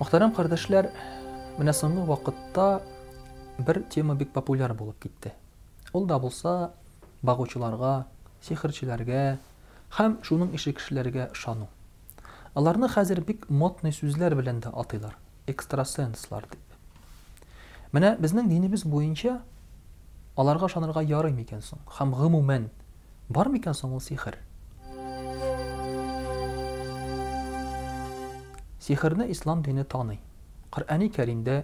Мөхтәрәм кардәшләр, менә соңгы вакытта бер тема бик популяр булып китте. Ул да булса багучыларга, сихерчеләргә һәм шуның ише кешеләргә ышану. Аларны хәзер бик модный сүзләр белән дә атыйлар, экстрасенслар дип. Менә безнең динебез буенча аларга ышанырга ярый микән соң? Һәм гомумән, Бар микән соң ул сихер? Сихерне ислам дине таный. Коръәни Кәримдә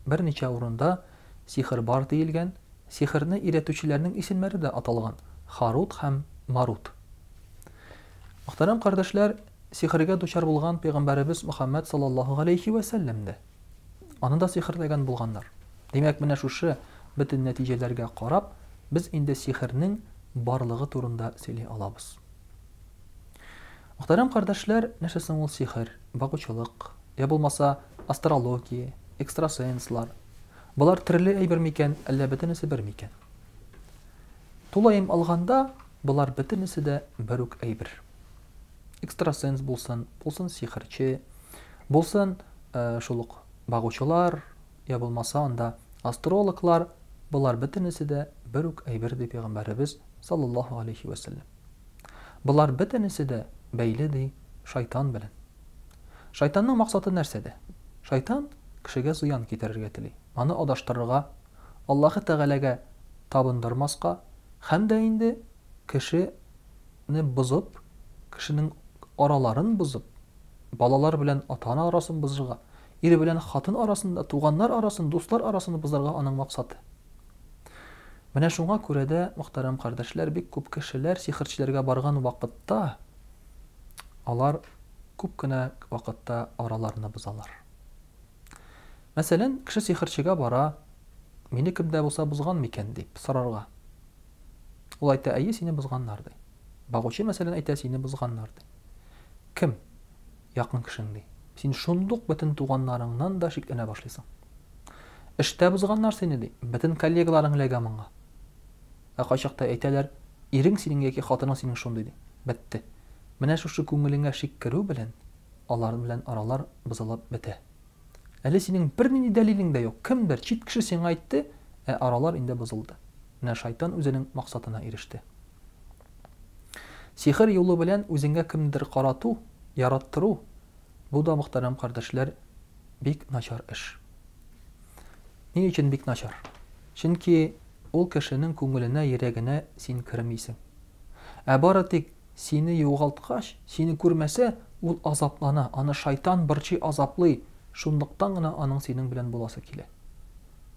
берничә урында сихер бар диелгән, сихерне өйрәтүчеләрнең исемнәре дә аталган, Харут һәм Марут. Мөхтәрәм кардәшләр, сихергә дучар булган пәйгамбәребез Мөхәммәд саллаллаһу галәйһи вә сәлләм дә. Аны да сихерләгән булганнар. Димәк, менә шушы бөтен нәтиҗәләргә карап, без инде сихернең барлыгы турында сөйли алабыз. Мөхтәрәм кардәшләр, нәрсә соң ул сихер, багучылык, я булмаса астрология, экстрасенслар? Болар төрле әйбер микән, әллә бөтенесе бер микән? Тулаем алганда, болар бөтенесе дә бер үк әйбер. экстрасенс булсын, булсын сихерче, булсын э, шул ук багучылар, я булмаса анда астрологлар, болар бөтенесе дә бер үк әйбер ди пәйгамбәребез саллаллаһу алейхи вәсәлләм. Болар бөтенесе дә бәйле ди шайтан белән. Шайтанның максаты нәрсәдә? Шайтан кешегә зыян китерергә тели, аны адаштырырга, Аллаһы Тәгаләгә табындырмаска һәм дә инде кеше не бозып, кешенең араларын бозып, балалар белән ата-ана арасын бозырга, ир белән хатын арасында, туганнар арасын, дуслар арасын бозарга аның максаты. Менә шуңа күрә дә, мөхтәрәм кардәшләр, бик күп кешеләр сихерчеләргә барган вакытта, алар күп кенә вакытта араларны бозалар. Мәсәлән, кеше сихерчегә бара, мине кем дә булса бозган микән дип сорарга. Ул әйтә, әйе, сине бозганнар, ди. Багучы, мәсәлән, әйтә, сине бозганнар, ди. Кем? Якын кешең, ди. Син шундук бөтен туганнарыңнан да шикләнә башлыйсың. Эштә бозганнар сине, ди. Бөтен коллегаларың эләгә моңа. Ә кайчакта әйтәләр, ирең синең яки хатының синең шундый, ди. Бетте. Менә шушы күңелеңә шик керү белән алар белән аралар бозылып бетә. Әле синең бернинди дәлилең дә юк, кемдер, чит кеше сиңа әйтте, ә аралар инде бозылды. Менә шайтан үзенең максатына иреште. Сихер юлы белән үзеңә кемнедер карату, яраттыру, бу да, мөхтәрәм кардәшләр, бик начар эш. Ни өчен бик начар? Чөнки ул кешенең күңеленә, йөрәгенә син кермисең. Ә бары тик Сине югалткач, сине күрмәсә, ул азаплана, аны шайтан борчый, азаплый, шунлыктан гына аның синең белән буласы килә.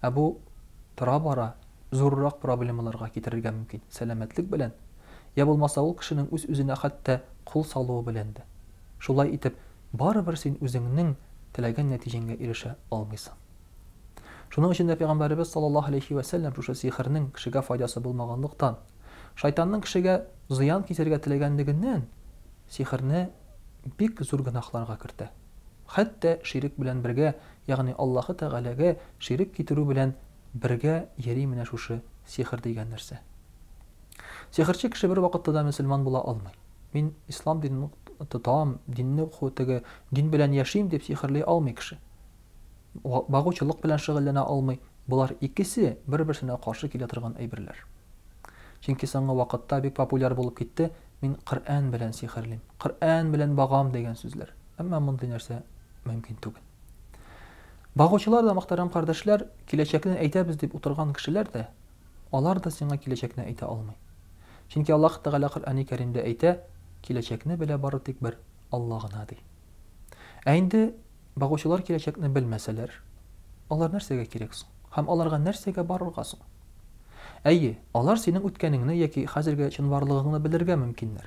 Ә бу тора-бара зуррак проблемаларга китерергә мөмкин, сәламәтлек белән, йә булмаса ул кешенең үз-үзенә хәтта кул салуы белән дә. Шулай итеп, барыбер син үзеңнең теләгән нәтиҗәңгә ирешә алмыйсың. Шуның өчен дә пәйгамбәребез саллаллаһу алейһи вә сәлләм шушы сихернең кешегә файдасы булмаганлыктан, шайтанның кешегә зыян китерергә теләгәнлегеннән сихерне бик зур гөнаһларга кертә. Хәтта ширек белән бергә, ягъни Аллаһы Тәгаләгә ширек китерү белән бергә йөри менә шушы сихер дигән нәрсә. Сихерче кеше бервакытта да мөселман була алмый. Мин ислам динен тотам, динне теге дин белән яшим дип сихерли алмый кеше. багучылык белән шөгыльләнә алмый. Болар икесе бер-берсенә каршы килә торган әйберләр. Чөнки соңгы вакытта бик популяр булып китте, мин Коръән белән сихерлим, Коръән белән багам дигән сүзләр. Әмма мондый нәрсә мөмкин түгел. Багучылар да, мөхтәрәм кардәшләр, киләчәкне әйтәбез дип утырган кешеләр дә, алар да сиңа киләчәкне әйтә алмый. Чөнки Аллаһ Тәгалә Коръәни Кәримдә әйтә, киләчәкне белә бары тик бер Алла гына ди. Ә инде Багучылар киләчәкне белмәсәләр, алар нәрсәгә кирәк соң? Һәм аларга нәрсәгә барырга соң? Әйе, алар синең үткәнеңне яки хәзерге чынбарлыгыңны белергә мөмкиннәр.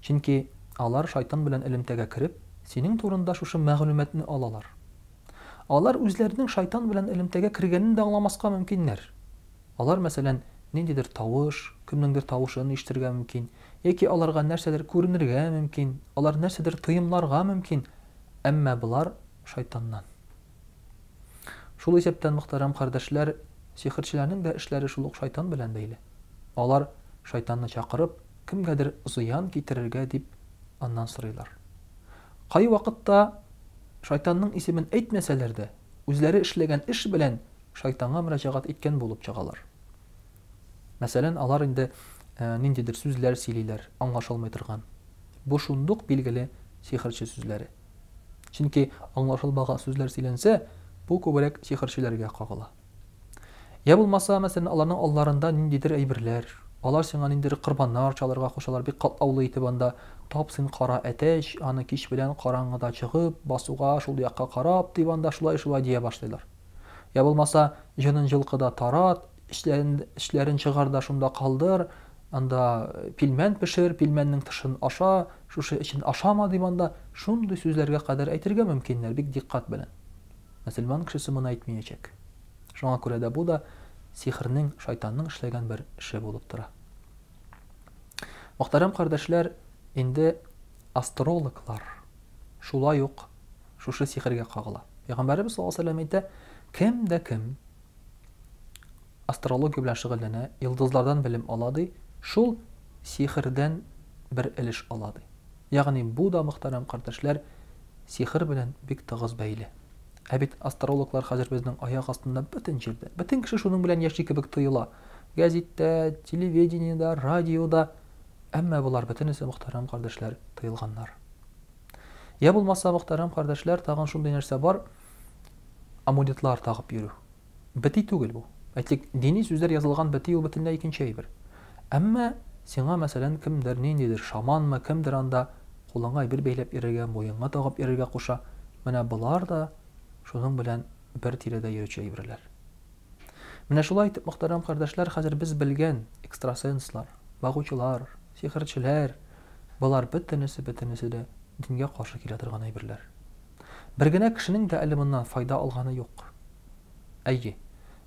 Чөнки алар Шайтан белән элемтәгә кереп, синең турында шушы мәгълүматны алалар. Алар үзләренең Шайтан белән элемтәгә кергәнен дә аңламаска мөмкиннәр. Алар, мәсәлән, ниндидер тавыш, кемнеңдер тавышын ишетергә мөмкин, яки аларга нәрсәдер күренергә мөмкин, алар нәрсәдер тоемларга мөмкин. Әмма болар, шайтаннан. Шул исәптән, мөхтәрәм кардәшләр, сихерчеләрнең дә эшләре шул ук шайтан белән бәйле. Алар, шайтанны чакырып, кемгәдер зыян китерергә дип, аннан сорыйлар. Кайвакытта, шайтанның исемен әйтмәсәләр дә, үзләре эшләгән эш белән шайтанга мөрәҗәгать иткән булып чыгалар. Мәсәлән, алар инде ниндидер сүзләр сөйлиләр, аңлашылмый торган. Бу шундук билгеле сихерче сүзләре. Чөнки аңлашылмаган сүзләр сөйләнсә, бу күбрәк сихерчеләргә кагыла. Йә булмаса, мәсәлән, аларның алларында ниндидер әйберләр, алар сиңа ниндидер корбаннар чалырга кушалар, бик катлаулы итеп анда тап син кара әтәч, аны кич белән караңгыда чыгып, басуга, шул якка карап, дип анда шулай-шулай дия башлыйлар. Йә булмаса, җонын җылкыда тарат, эчләрен чыгар да шунда калдыр, анда пилмән пешер, пилмәннең тышын аша, шушы эчен ашама дип анда шундый сүзләргә кадәр әйтергә мөмкиннәр, бик диккать белән. Мөселман кешесе моны әйтмиячәк. Шуңа күрә дә бу да сихернең, шайтанның эшләгән бер эше булып тора. Мөхтәрәм кардәшләр, инде астрологлар шулай ук шушы сихергә кагыла. Пәйгамбәребез саллаллаһу алейһи вәсәлләм әйтә, кем дә кем астрология белән шөгыльләнә, йолдызлардан белем ала ди, шул сихердән бер элеш ала ди. Ягъни бу да мөхтәрәм кардәшләр сихер белән бик тыгыз бәйле. Ә бит астрологлар хәзер безнең аяк астында бөтен җирдә. Бөтен кеше шуның белән яши кебек тоела. Гәзиттә, телевидениедә, радиода. Әмма болар бөтенесе мөхтәрәм кардәшләр тыелганнар. Я булмаса, мөхтәрәм кардәшләр, тагын шундый нәрсә бар, амулетлар тагып йөрү. Бити түгел бу. Әйтик, дини сүзләр язылган бити ул бөтенләй икенче әйбер. Әмма сиңа, мәсәлән, кемдер, ниндидер шаманмы, кемдер анда кулыңа әйбер бәйләп йөрергә, муенга тагып йөрергә куша. Менә болар да шуның белән бер тирәдә йөрүче әйберләр. Менә шулай итеп, мөхтәрәм кардәшләр, хәзер без белгән экстрасенслар, багучылар, Сихерчеләр, болар бөтенесе, бөтенесе дә дингә каршы килә торган әйберләр. Бер генә кешенең дә әле моннан файда алганы юк. Әйе,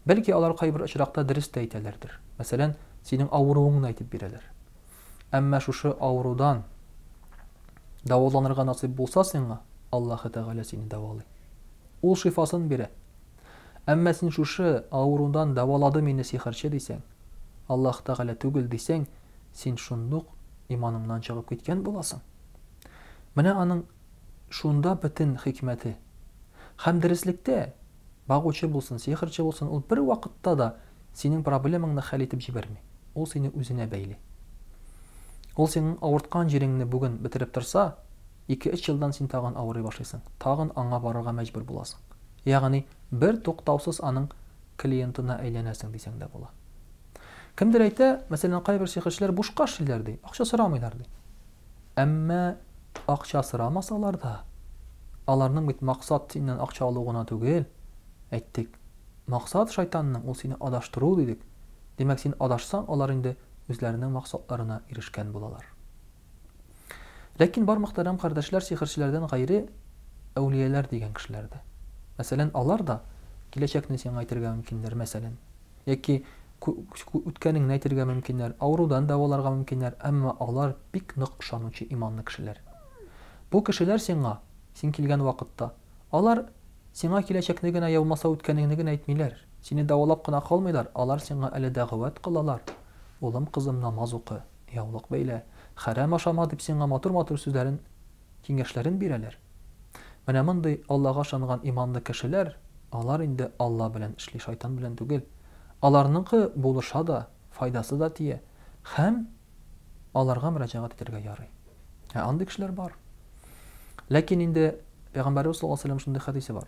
бәлки алар кайбер очракта дөрес тә әйтәләрдер, мәсәлән, синең авыруыңны әйтеп бирәләр. Әмма шушы авырудан дәваланырга насыйп булса сиңа, Аллаһы Тәгалә сине дәвалый. Ул шифасын бирә. Әмма син шушы авырудан дәвалады мине сихерче дисәң, Аллаһ Тәгалә түгел дисәң, син шундук иманыңнан чыгып киткән буласың. Менә аның шунда бөтен хикмәте. Һәм дөреслектә, багучы булсын, сихерче булсын, ул бервакытта да синең проблемаңны хәл итеп җибәрми. Ул сине үзенә бәйли. Ул синең авырткан җиреңне бүген бетереп торса, Ике-өч елдан син тагын авырый башлыйсың, тагын аңа барырга мәҗбүр буласың. Ягъни, бертуктаусыз аның клиентына әйләнәсең дисәң дә була. Кемдер әйтә, мәсәлән, кайбер сихерчеләр бушка эшлиләр, ди, акча сорамыйлар, ди. Әмма акча сорамасалар да, аларның бит максат синнән акча алу гына түгел, әйттек. Максат шайтанның, ул сине адаштыру, дидек. Димәк, син адашсаң, алар инде үзләренең максатларына ирешкән булалар. Ләкин бар мөхтәрәм кардәшләр сихерчеләрдән гайре әүлияләр дигән кешеләр дә. Мәсәлән, алар да киләчәкне сиңа әйтергә мөмкиннәр, мәсәлән. Яки үткәнеңне әйтергә мөмкиннәр, авырудан дәваларга мөмкиннәр, әмма алар бик нык ышанучы иманлы кешеләр. Бу кешеләр сиңа, син килгән вакытта, алар сиңа киләчәкне генә яумаса үткәнеңне генә әйтмиләр, сине дәвалап кына калмыйлар, алар сиңа әле дәгъвәт кылалар, Улым, кызым, намаз укы. Яулык бәйлә, хәрам ашама дип сиңа матур-матур сүзләрен, киңәшләрен бирәләр. Менә мондый Аллага ышанган иманлы кешеләр, алар инде Алла белән эшли, шайтан белән түгел. Аларныкы булыша да, файдасы да тия һәм аларга мөрәҗәгать итәргә ярый. Ә андый кешеләр бар. Ләкин инде Пәйгамбәребез саллаллаһу алейһи ва сәлләм шундый хәдисе бар.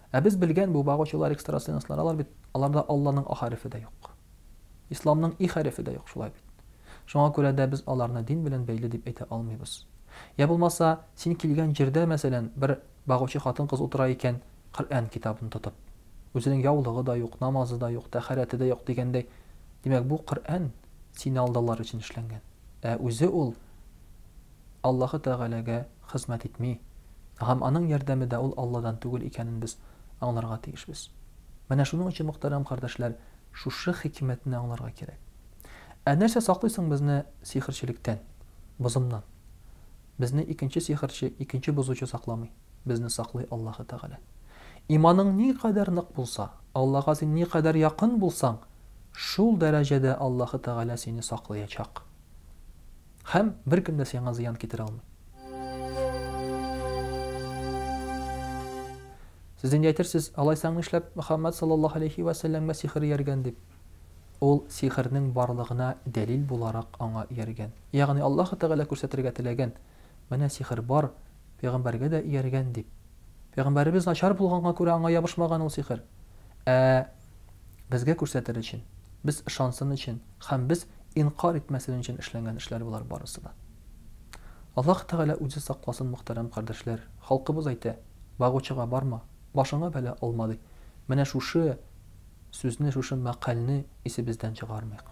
Ә без белгән бу багучылар, экстрасенслар, алар бит, аларда Алланың ахәрефе дә юк. Исламның ихәрефе дә юк, шулай бит. Шуңа күрә дә без аларны дин белән бәйле дип әйтә алмыйбыз. Йә булмаса, син килгән җирдә, мәсәлән, бер багучы хатын-кыз утыра икән, Коръән китабын тотып. Үзенең яулыгы да юк, намазы да юк, тәһарәте дә юк дигәндәй. Димәк, бу Коръән сине алдалар өчен эшләнгән. Ә үзе ул Аллаһы Тәгаләгә. хезмәт итми, һәм аның ярдәме дә ул Алладан түгел икәнен без аңларга тиешбез. Менә шуның өчен, мөхтәрәм кардәшләр, шушы хикмәтне аңларга кирәк. Ә нәрсә саклый соң безне сихерчелектән, бозымнан? Безне икенче сихерче, икенче бозучы сакламый. Безне саклый Аллаһы Тәгалә. Иманың никадәр нык булса, Аллага син никадәр якын булсаң, шул дәрәҗәдә Аллаһы Тәгалә сине саклыячак. Һәм беркем дә сиңа зыян китерә алмый. Сез инде әйтерсез, алайсаң нишләп Мөхәммәд саллаллаһу алейһи вә сәлләмгә сихер ияргән дип? Ул сихернең барлыгына дәлил буларак аңа ияргән. Ягъни Аллаһы Тәгалә күрсәтергә теләгән, менә сихер бар, пәйгамбәргә дә ияргән дип. Пәйгамбәребез начар булганга күрә аңа ябышмаган ул сихер. Ә безгә күрсәтер өчен, без ышансын өчен һәм без инкарь итмәсен өчен эшләнгән эшләр болар барысы да. Аллаһ Тәгалә үзе сакласын мөхтәрәм кардәшләр, халкыбыз әйтә, Багучыга барма, башыңа бәла алма, ди. Менә шушы сүзне, шушы мәкальне исебездән чыгармыйк.